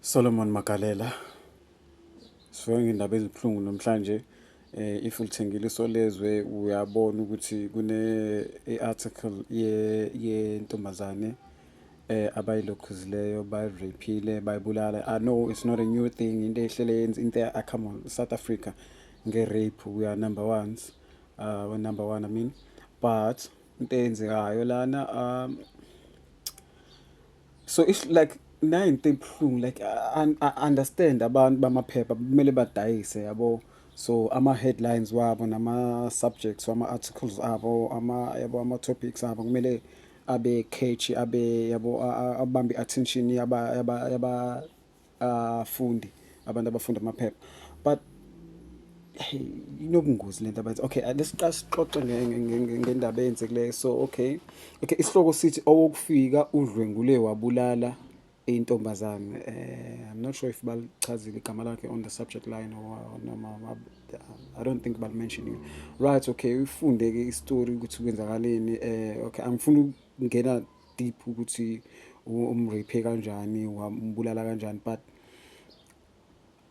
Solomon Magalela sifike ngendaba ezibuhlungu namhlanje eh if ulithengile isolezwe uyabona ukuthi kune article ye yentombazane eh abayilokhuzileyo bayirapile bayibulala i know it's not a new thing into ehlele yenza into ah, come on South Africa nge rape we are number ones uh we number 1 i mean but into eyenzekayo lana um so it's like nayo into ebuhlungu like I understand abantu bamaphepha kumele badayise yabo so ama headlines wabo nama subjects wama articles abo ama yabo ama topics abo kumele abe catchy abe yabo abambe attention yaba yaba yaba afundi abantu abafunda amaphepha but inobungozi lento abathi okay lesiqala sixoxe ngendaba eyenzekileyo so okay okay isihloko sithi owokufika udlwengule wabulala intombazane eh i'm not sure if balichazile igama lakhe on the subject line or noma i don't think bal mentioning right okay ufunde ke istory ukuthi kwenzakaleni eh okay angifuni ukungena deep ukuthi umrape kanjani wambulala kanjani but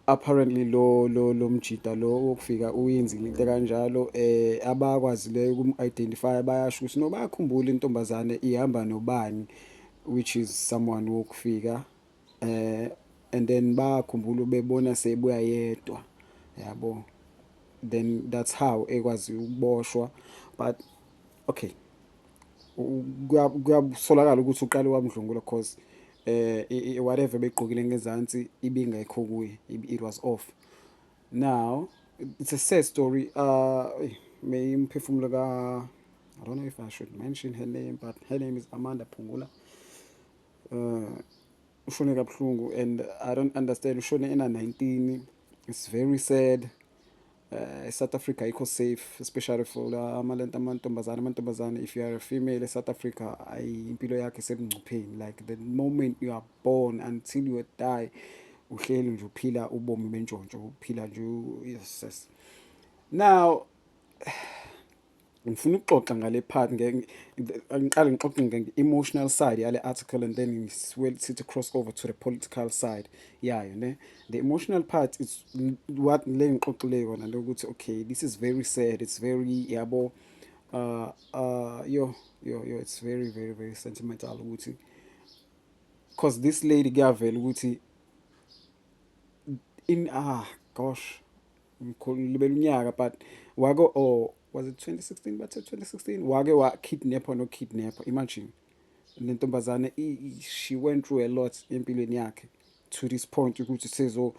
apparently lo lo lomjita lo wokufika uyenzile into kanjalo eh abakwazileyo ukum identify bayasho ukuthi no bayakhumbula intombazane ihamba nobani which is someone wokufika eh and then bakhumbula bebona sebuya yedwa yabo then that's how ekwazi ukuboshwa but okay kuyasolakala ukuthi uqale wamdlungula cause eh whatever begqokile ngezansi ibingekho kuye it was off now it's a sad story uh may imphefumulo ka I don't know if I should mention her name but her name is Amanda Phungula uh ushone kabuhlungu and I don't understand ushone ena 19 it's very sad uh, eSouth Africa ayikho safe especially for la amalento amantombazane amantombazane if you are a female eSouth Africa ayi impilo yakhe sebungcupheni like the moment you are born until you die uhleli nje uphila ubomi bentshontsho uphila nje yes now ngifuna ukuxoxa ngale part ngiqale ngixoxe nge-emotional side yale article and then siwel sithi cross over to the political side yayo ne the emotional part is what le ngixoxile yona lokuthi okay this is very sad it's very yabo uh uh yo yo yo it's very very very sentimental ukuthi because this lady kuyavela ukuthi in ah gosh Mkhulu ngilibele unyaka but wake or oh, was it 2016 bathe 2016 wake wa kidnapper no kidnapper imagine le ntombazane she went through a lot empilweni yakhe to this point ukuthi sezo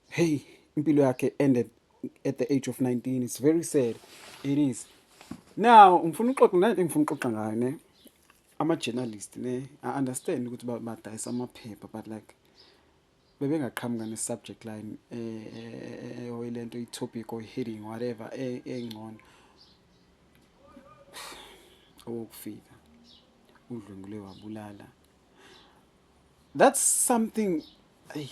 hey impilo yakhe ended at the age of 19 it's very sad it is now ngifuna uxoxa nento engifuna uxoxa ngayo ne ama journalist ne i understand ukuthi badayisa amaphepha but like bebengaqhamuka ne subject line oyilento i topic or heading whatever engcono owokufika udlwengule wabulala that's something ay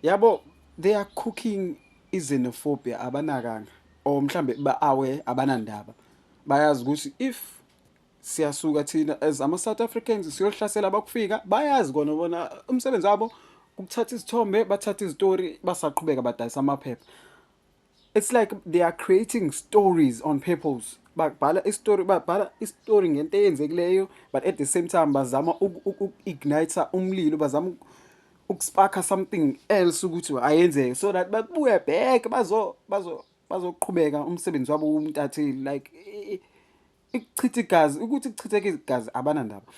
yabo they are cooking izenophobia abanakanga or mhlambe ba aware abanandaba bayazi ukuthi if siyasuka thina as ama South Africans siyohlasela abakufika bayazi kona bona umsebenzi wabo ukuthatha izithombe bathatha izitori basaqhubeka badayisa amaphepha it's like they are creating stories on purpose babhala istory babhala istory ngento eyenzekileyo but at the same time bazama uku-igniter umlilo bazama ukusparka something else ukuthi ayenzeke so that babuye back bazo bazo bazoqhubeka umsebenzi wabo umntatheli like ikuchitha igazi ukuthi kuchitheke igazi abanandaba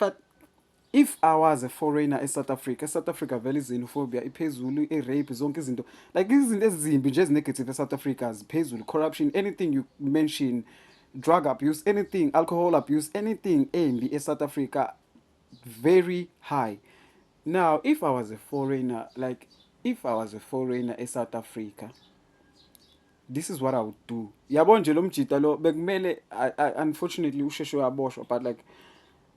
but if i was a foreigner esouth africa esouth africa vele i-xenophobia iphezulu i-rape zonke izinto like izinto ezimbi nje ezinegative esouth africa ziphezulu corruption anything you mention drug abuse anything alcohol abuse anything embi esouth africa very high now if i was a foreigner like if i was a foreigner esouth africa this is what i would do yabo nje lo mjita lo bekumele unfortunately usheshe waboshwa but like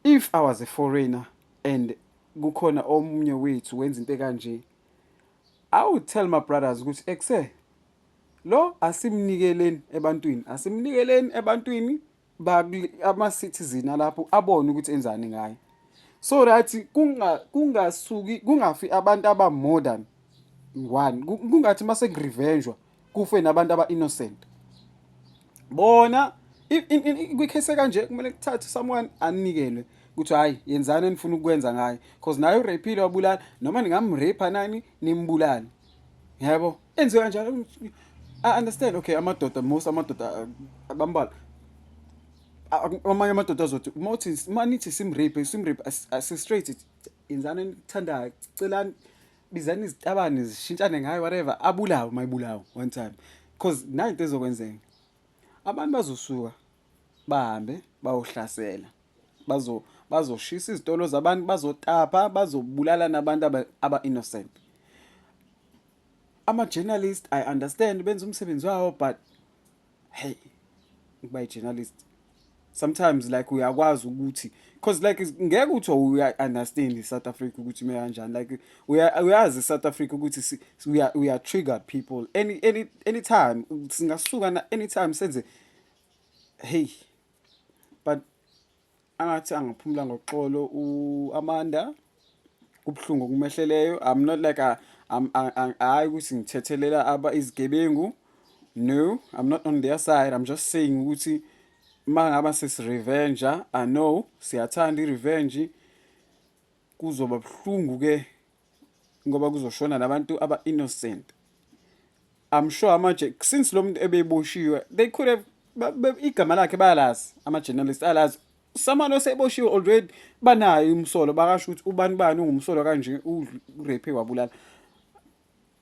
if i was a foreigner and kukhona omunye wethu wenza into kanje i would tell my brothers ukuthi ekuse lo asimnikeleni ebantwini asimnikeleni ebantwini ama-citizen alapho abone ukuthi enzani ngayo so that kungasuki kungafi abantu aba-more than one kungathi uma sekurivenjwa kufe nabantu aba-innocent bona kwikhesi ekanje kumele kuthathe someone anikelwe ukuthi hhayi yenzani enifuna ukukwenza ngayo because naye ureyphile wabulala noma ningamreypha nani nimbulale yabo enziwe kanjalo i understand okay amadoda most amadoda abambalwa amanye amadoda azothi uma uthi uma nithi simrape simrape asistraight yenzani enithandayo celani bizani izitabane zishintshane ngayo whatever abulawe mayibulawe one time because nayo into ezokwenzeka abantu bazosuka bahambe bayohlasela bazo bazoshisa izitolo zabantu bazotapa bazobulala nabantu aba innocent ama journalist i understand benza umsebenzi wawo but hey ukuba i journalist sometimes like uyakwazi ukuthi because like ngeke uthi uya understand iSouth Africa ukuthi me kanjani like uyazi iSouth Africa ukuthi uya uya trigger people any any anytime singasuka na anytime senze heyi but angathi angaphumula ngoxolo u-amanda kubuhlungu okumehleleyo i'm not like a hayi ukuthi ngithethelela aba izigebengu no i'm not on their side i'm just saying ukuthi uma ngaba sesirevenge i know siyathanda i-revenge kuzoba buhlungu-ke ngoba kuzoshona nabantu aba innocent i'm sure amaje since lo muntu ebeboshiwe they could have igama lakhe bayalazi ama journalist alazi someone oseboshiwe already banayo umsolo bakasho ukuthi ubani bani ungumsolo kanje urape wabulala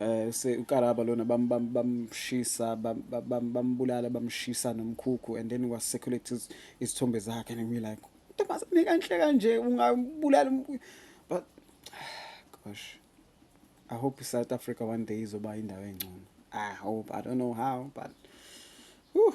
eh se ukaraba lona bamshisa bambulala bamshisa nomkhukhu and then was circulate isithombe zakhe and we like ntombazane kanhle kanje ungabulala but gosh i hope south africa one day izoba indawo engcono i hope i don't know how but whew.